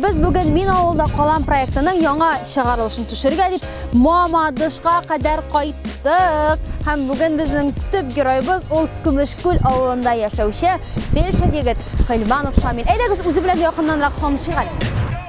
Без бүген Мин авылда калам проектының яңа чыгарылышын төшергә дип Мамадышка кадәр кайттык. Һәм бүген безнең төп героебыз ул Көмешкүл авылында яшәүче фельдшер егет Хилманов Шамил. Әйдәгез үзе белән якыннанрак танышыйк әле.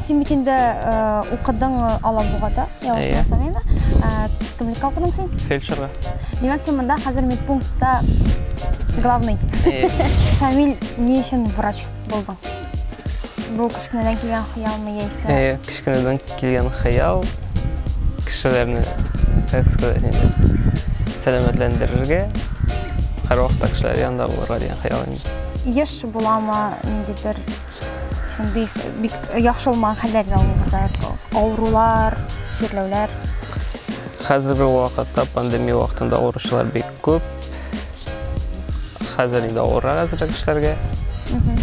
Син бит инде укыдың Алабугада, ялгышмасам инде. Кемлеккә укыдың син? Фельдшерга. Димәк, син монда хәзер медпунктта главный. Шамил, ни өчен врач булдың? Бу кечкенәдән килгән хыялмы яисә? Әйе, кечкенәдән килгән хыял кешеләрне, как сказать, инде сәламәтләндерергә, һәрвакытта кешеләр янында булырга дигән хыял инде. Еш буламы ниндидер шундый бик яхшы булмаган хәлләрне алуыгызга авырулар чирләүләр хәзерге вакытта пандемия вакытында авыручылар бик күп хәзер инде авыррак әзрәк эшләргә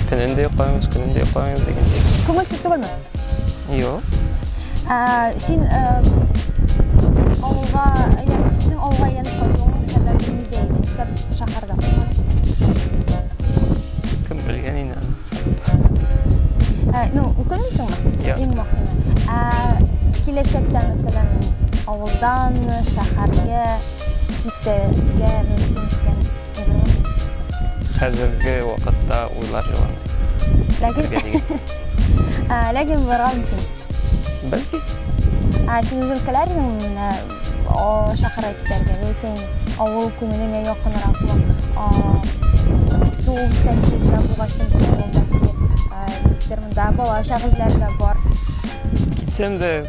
төнен дә йоклаймыз көнен дә йоклаймыз дигәндәй күңелсез түгелме юк син авылга әйләнеп синең авылга әйләнеп кайтуыңның сәбәбе нидә иде нишләп шәһәрдә калган кем белгән инде Ә, ну, укымыйсың? Юк. Иң мөхиме. Ә киләчәктә, мәсәлән, авылдан шәһәргә китәргә мөмкин икән, Хәзерге вакытта уйлар җыланмый. Ләкин Ләкин булырга мөмкин. Бәлки. Ә син үзең теләр идеңме менә чакыра китәргә, яисә инде авыл күңеленә якынракмы, туып үскән җирдә булгач, монда балачак эзләре дә бар. Китсәм дә,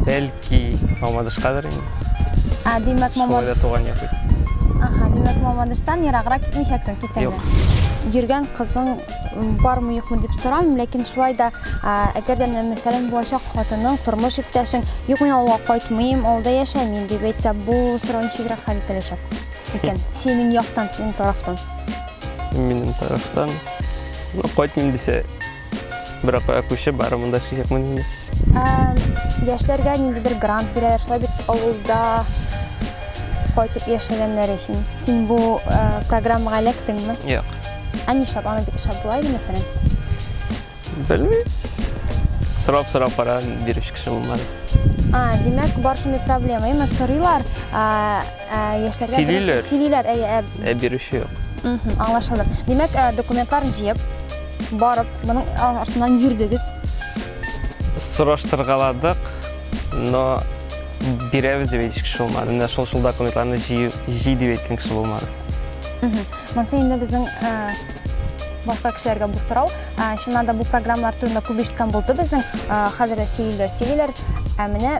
бәлки, Мамадышкадыр инде. Димәк, Мамадыш. Шулай да туган як бит. Димәк, Мамадыштан ераграк китмичәксең, китсәң дә. Юк. Йөргән кызың бармы юкмы дип сорамыйм ләкин шулай да әгәр дә мәсәлән булачак хатының тормыш иптәшең юк мин авылга кайтмыйм авылда яшәмим дип әйтсә бу сорау ничегрәк хәл ителәчәк икән синең яктан синең тарафтан минем тарафтан ну кайтмыйм дисә берәк кая күчеп бары монда чыгыпмын инде яшьләргә ниндидер грант бирәләр шулай бит авылда кайтып яшәгәннәр өчен син бу программага эләктеңме юк Ә нишләп аны бик шәп була иде мәсәлән? Белмим. Сорап сорап кара бирүче кеше булмады. А, димәк, бар шундый проблема. Әмма сорыйлар, а, а, яшьләргә Сөйлиләр. дөрес- сөйлиләр, әйе, ә, Ә бирүче юк. мгм, аңлашылды. Димәк, ә, документларын җыеп, барып, моның а, артыннан йөрдегез. Сораштыргаладык, но бирәбез дип әйтүче кеше булмады. Менә шул шул документларны җыю җый дип әйткән кеше булмады. Мгм. Монысы инде безнең башка кешеләргә бу сорау. Чыннан да бу программалар турында күп ишеткән булды безнең. Хәзер дә сөйлиләр, сөйлиләр. Ә менә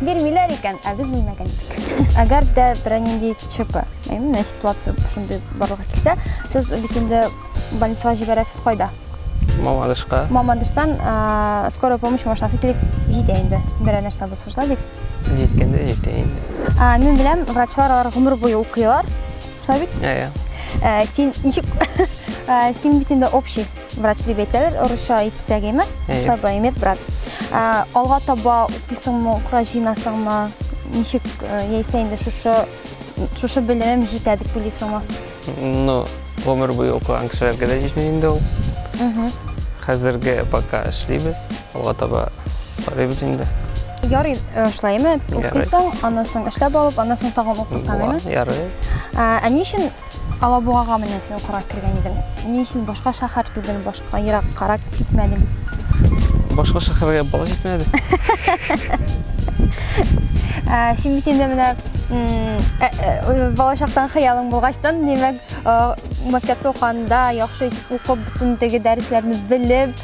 бирмиләр икән, ә без белмәгән идек. Әгәр дә бернинди ЧП, әйме, ситуация шундый барлыкка килсә, сез бит инде больницага җибәрәсез кайда? Мамадышка. Мамадыштан скорая помощь машинасы килеп җитә инде. Берәр нәрсә булса шулай бит? Җиткәндә җитә инде. Мин беләм, врачлар алар гомер буе укыйлар. Славик? Ә, ә. Ә, син ничек... Ә, син бит инде общий врач дип әйтәләр, орысча әйтсәк име? Сабай, медбрат. Ә, алга таба укыйсыңмы, укра җыйнасыңмы? Ничек ә, яисә инде шушы шушы белемем җитә дип уйлыйсыңмы? Ну, гомер буе укыган кешеләргә дә җитми инде ул. Хәзерге пока эшлибез, алга таба карыйбыз инде. Ярый, э, шулай ме? Укыйсың, аннан соң эшләп алып, аннан соң тагын укысаң, Була, әйме? Ярый. Ә, ә ни өчен Алабугага менә син укырга кергән идең? Ни өчен башка шәһәр түгел, башка ераккарак китмәдең? Башка шәһәргә бала җитмәде. Ә, син бит инде менә м, ә, ә, балачактан хыялың булгачтан, димәк, э, мәктәптә укыганда яхшы итеп укып, бөтен теге дәресләрне белеп,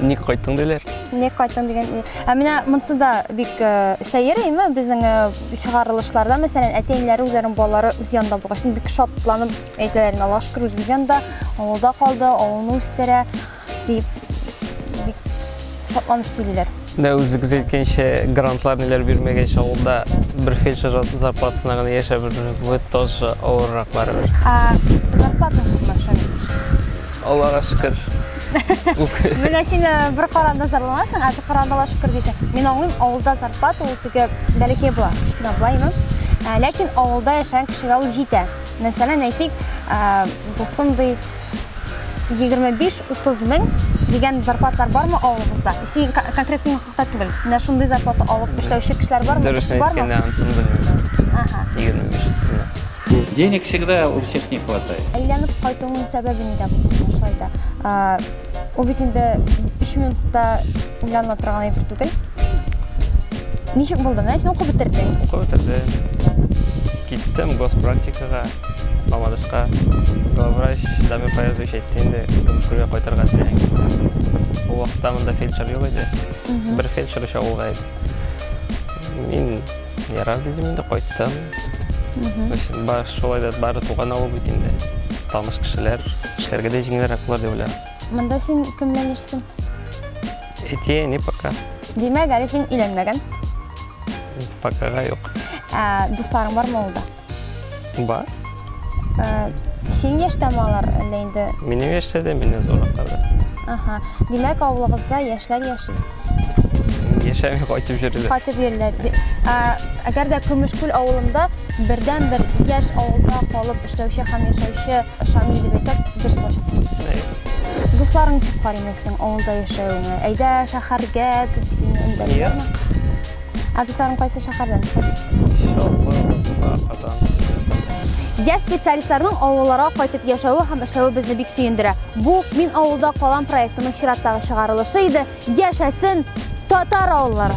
Ник кайттың диләр? Ник кайттың дигән. Ә менә монсы да бик э, сәер әйме безнең э, чыгарылышларда, мәсәлән, әти-әниләре үзләренең балалары үз янында булгач, бик шатланып әйтәләр, инде, Аллаһ шөкер, үзебез янында, авылда калды, авылны үстерә дип бик шатланып сөйлиләр. Менә үзегез әйткәнчә, грантлар ниләр бирмәгәч, авылда бер фельдшер зарплатасына гына яшәп бирде. Бу тоже авыррак барыбер. Ә зарплата күпме шуның? Аллага шөкер. Менә син э, бер каранда зарланасың, ә бер каранда ла шөкер дисең. Мин аңлыйм, авылда зарплата ул теге бәләкәй була, кечкенә була име. Ә, ләкин авылда яшәгән кешегә ул җитә. Мәсәлән, әйтик, ә, шундый 25-30 мең дигән зарплатлар бармы авылыбызда? Син кон- конкрет синең хакта түгел. Менә шундый зарплата алып эшләүче кешеләр бармы? Дөресен Кеше бармы? әйткәндә, ансамбль Ага. 25 тезмә. Денег всегда у всех не хватает. Әйләнеп кайтуның сәбәбе нидә булды соң шулай да? А, Ул бит инде 3 минутта уйлана торган әйбер түгел. Ничек булды? Менә син укып бетердең. Укып бетердем. Киттем госпрактикага, Мамадышка. Главврач Дамир Фаязович әйтте инде, Көмешкүлгә кайтырга теләгән китте. Ул вакытта монда фельдшер юк иде. Бер фельдшер өчә булган иде. Мин Ярар дидем инде, кайттым. Шулай да бары туган авыл бит инде. Таныш кешеләр, эшләргә дә җиңелрәк булыр дип уйлыйм. Монда син кемнән яшисең? Әти, әни пока. Димәк, әле син өйләнмәгән? Покага юк. Ә, дусларың бармы авылда? Бар. Э, Син яшьтәме алар әллә инде? Минем яшьтә дә, миннән зуррактар да. Ага. Димәк, авылыгызда яшьләр яши. Яшәми кайтып йөриләр. Кайтып йөриләр. Ди- Ә, Әгәр дә Көмешкүл авылында бердәнбер яшь авылда калып эшләүче һәм яшәүче Шамил дип әйтсәк, дөрес булыр. Әйе. Дусларың ничек карый инде синең авылда яшәвеңә? Әйдә шәһәргә дип сине Юк. өндәмиләрме? Ә дусларың кайсы шәһәрдән? Чаллы, Казан. Яшь специалистларның авылларга кайтып яшәве һәм эшләве безне бик сөендерә. Бу Мин авылда калам проектының чираттагы чыгарылышы иде. Яшәсен татар авыллары!